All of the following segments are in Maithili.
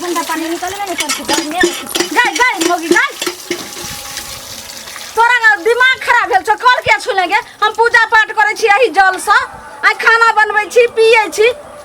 ठंडा पानी निकले ना निकल के गर्मी में गाय गाय मोगी गाय तोरा ना दिमाग खराब भेल छौ कल के छुलेंगे हम पूजा पाठ करै छी एही जल सँ आ खाना बनबै छी पियै छी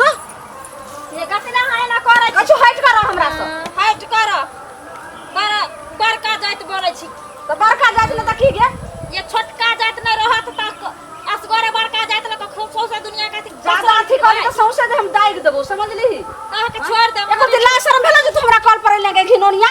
जो ये कते ना हाय ना करे छी कछु हट कर हमरा से हट कर बड़ बड़का जात बोले छी तो बड़का जात में त की गे ये छोटका जात न रहत त असगरे बड़का जात ल त खूब सौसे दुनिया का थी ज्यादा अथी करे तो सौंसे दे हम दाग देबो समझली तह के छोड़ दे एको दिन ला शर्म भेला जे तू हमरा कॉल पर ले गई घिनोनिया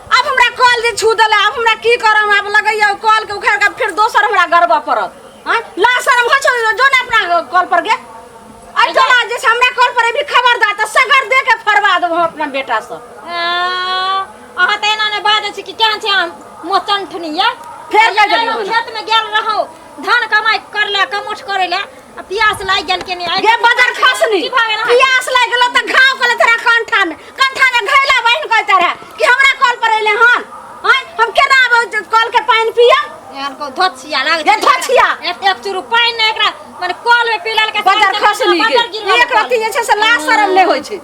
अब हमरा कॉल जे छू देले अब हमरा की करम अब लगैया कॉल के उखाड़ के फिर दोसर हमरा गरबा पड़त हां ला शर्म हो छौ जो ना अपना कॉल पर गे अरे तो आज जैसे हमरा कॉल पर भी खबर दा त सगर दे के फरवा देबो हम अपना बेटा से अहाँ तऽ एना नहि बाजै छी कि केहन छै अहाँ मोचन ठनिया फेर लग गेलियै खेत में गेल रहौ धान कमाई कर ले कमोठ करे ले आ प्यास लागि गेल के नहीं गे बदर खसनी की भागे ना प्यास लागि गेलो त घाव कले तोरा कंठा में कंठा में घैला बहिन कह तोरा कि हमरा कॉल पर अइले हन हैं हम केना आबे कॉल के पानी पिया यार को धोछिया लाग गे धछिया एक एक चुरु पानी ना एकरा माने कॉल में पीला के बदर खसनी गे एक रति जे छै से लाज शरम नै होय छै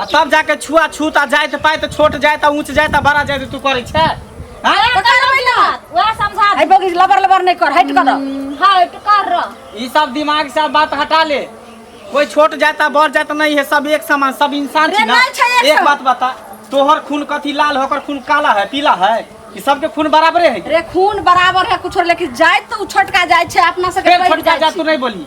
आ तब जाके छुआ छूत आ जाइत पाइत छोट जाइत आ ऊंच जाइत आ बड़ा जाइत तू करे छै हाँ? तो करबै ना वह समझा है दे बगी लबर लबर नहीं कर हट कर दो हां तो कर रह ई सब दिमाग से अब बात हटा ले कोई छोट जाता बड़ जाता नहीं है सब एक समान सब इंसान रे, छी ना नहीं छै एक एक समान। बात बता तोहर खून कथी लाल है ओकर खून काला है पीला है ई सबके खून बराबरे है रे खून बराबर है कुछ लेकिन जाए तो उ छोटका जाए छे अपना से फेर छोटका जा तू नहीं बोली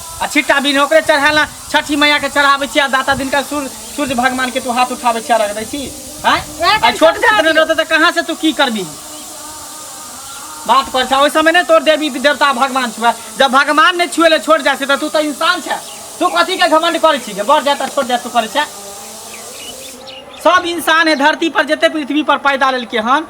आ छिट्टा बिन ओकरे चढ़ाला छठी मैया के चढ़ाबै छी आ दाता दिन का सूर्य सूर्य भगवान के तू हाथ उठाबै छी आ रख दै छी हैं वएह आ तऽ छोट समझा पुत्र दियौ। रहतै तऽ कहाँ से तू की करबी बात पर छा ओहि समय ने तोर देवी देवता भगवान छुआ जब भगवान ने छुए ले छोड़ जाइ छै तऽ तू तऽ इंसान छै तू कथी के घमंड करै छी के बढ़ जाता छोड़ जाता तू करै छै सब इंसान है धरती पर जते पृथ्वी पर पैदा लेलके हन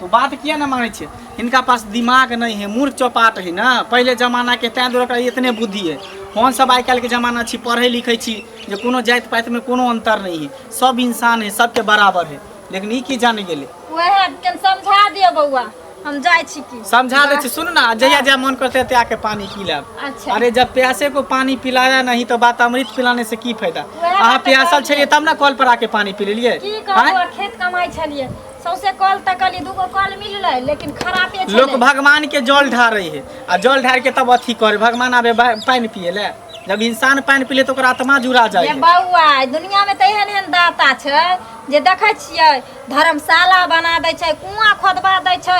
तो बात किया ना माने छे इनका पास दिमाग नहीं है मूर्ख चौपाट है ना पहले जमाना के तैं दुआरे ओकरा इतने बुद्धि है हम सब आइ काल्हि के जमाना छी पढ़े लिखे छी जे कोनो जाति पाति में कोनो अंतर नहीं है सब इंसान है सबके बराबर है लेकिन ई की जान गेले ओहे कन समझा दियो बौआ हम जाय छी की समझा दे सुन ना जहिया जहिया मन करते है आके पानी पी लेब अच्छा। अरे जब प्यासे को पानी पिलाया नहीं तो बात अमृत पिलाने से की फायदा अहाँ प्यासल छलिए तब ना कल पर आके पानी पी लेलिए खेत कमाई छलिए सौसे कल तकली दूगो कल मिलल लेकिन खराब है लोग भगवान के जल ढार रही है आ जल ढार के तब अथी करे भगवान आबे पानी पिए ले जब इंसान पानी पीले तो आत्मा जुड़ा जाए बउआ दुनिया में तो एहन एहन दाता छै जे देखे छियै धर्मशाला बना दै छै कुआँ खोदबा दै छै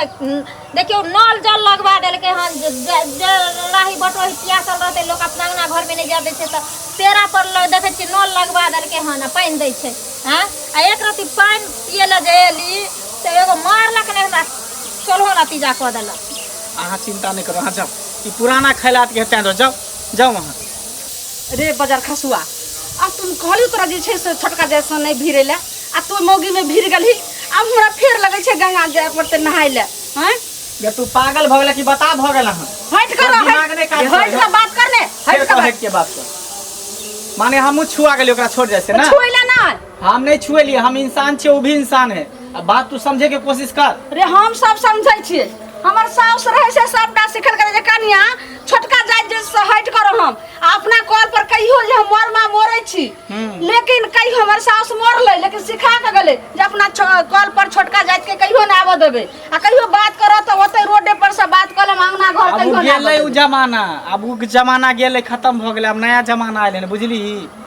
देखियौ नल जल लगबा देलकै हन जे राही बटोही पियासल रहतै लोक अपना अंगना घरमे नहि जाए दै छै तऽ पेड़ा पर देखै छियै नल लगबा देलकै हन आ पानि दै छै हँ आ एक रति पानि पिए लए जे एली से एगो मारलक नहि हमरा सोलहो नतीजा कऽ देलक अहाँ चिन्ता नहि करू अहाँ जाउ ई पुराना खैलात के हेतै जाउ जाउ अहाँ रे बजार खसुआ आ तुम कहली तोरा जे छै से छोटका जैसा नहीं भिड़े ले आ तू मौगी में भिड़ गली आ हमरा फेर लगे छै गंगा जाय पड़ते नहाय ले हैं ये तू पागल भ गेला कि बता भ गेला हन हट कर तोर दिमाग नहीं काम हट कर बात कर ने हट कर हट के बात कर माने हमहू छुआ गेली ओकरा छोड़ जाय से ना छुइला ना हम नहीं छुए लिए हम इंसान छे वो भी इंसान है अब बात तू समझे के कोशिश कर रे हम सब समझै छियै हमर साउस रहै से सबटा सिखल करै जे कनिया छोटका जाति जे से हट करो हम आ अपना कॉल पर कहियो जे हम मरमा मोरै छी लेकिन कहियो हमर साउस मरलै लेकिन सिखा के गेलै जे अपना कॉल पर छोटका जाति के कहियो ना आबऽ देबै आ कहियो बात करऽ तऽ ओतै रोडे पर से बात कऽ लेम अंगना घर अब कहियो उ ना गेलै उ जमाना अब उ जमाना गेलै खत्म भऽ गेलै अब नया जमाना आयल है बुझली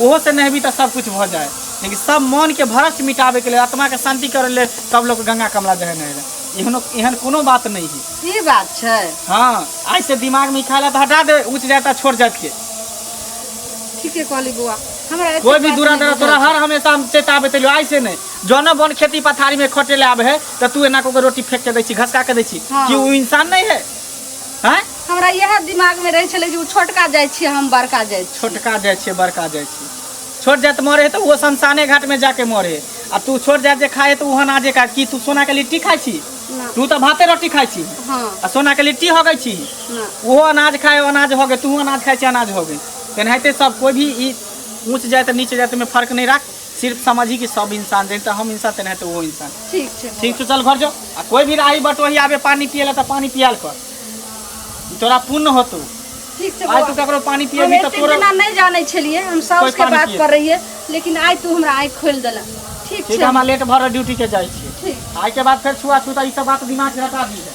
ओहो से नहेबी तऽ सब कुछ भऽ जाय लेकिन सब मन के भ्रष्ट मिटाबे के लेल आत्मा के शांति करे लेल सब लोग गंगा कमला जहे नहे लए एहनो एहन कोनो बात नहीं है ई बात छै हाँ आज से दिमाग में ई ख्याल है तऽ हटा दे ऊंच जात आ छोट जात के ठीके कहली बौआ हमरा एते कोई भी बात दूरा नहि दरा बुझल तोरा छै। हर हमेशा हम चेताबे तलियो आई से नहीं जौना बन खेती पथारी में खटे ले आबे है तऽ तू एना को के रोटी फेंक के दै छी घसका के दै छी हाँ। कि ऊ इंसान नहीं है हैं हमरा यह दिमाग में रहे छले कि उ छोटका जाय छी हम बड़का जाय छी छोटका जाय छी बड़का जाय छी छोट जात मरे तो वो शमशाने घाट में जाके मरे आ तू छोट जात जे खाए तो वहां नाजे का की तू सोना के लिट्टी खाई छी ना। तू तो भाते रोटी खाई छी हाँ आ सोना के लिट्टी हो गई छी ना वो अनाज खाए अनाज हो गए तू अनाज खाए छी अनाज हो गए तेनाहिते सब कोई भी ई ऊंच जात नीच जात में फर्क नहीं राख सिर्फ समझी कि सब इंसान जैसे हम इंसान तेना तो वो इंसान ठीक छै ठीक तो चल घर जो आ कोई भी राही बटोही आवे पानी पियला तो पानी पियाल कर तोरा पुण्य होतो ठीक छै आज तू बौआ। ककरो पानी हम पियबी तो एतेक तोरा दिना नहि जानै छलियै हम साउस कोइ के पानी बात पियै। पर रहियै लेकिन आइ तू हमरा आँखि खोलि देला ठीक ठीक छै है, हमरा लेट भर रहा, ड्यूटी के जाइ छी ठीक आइ के बाद फेर छुआ छूता ई सब बात दिमाग से हटा दी है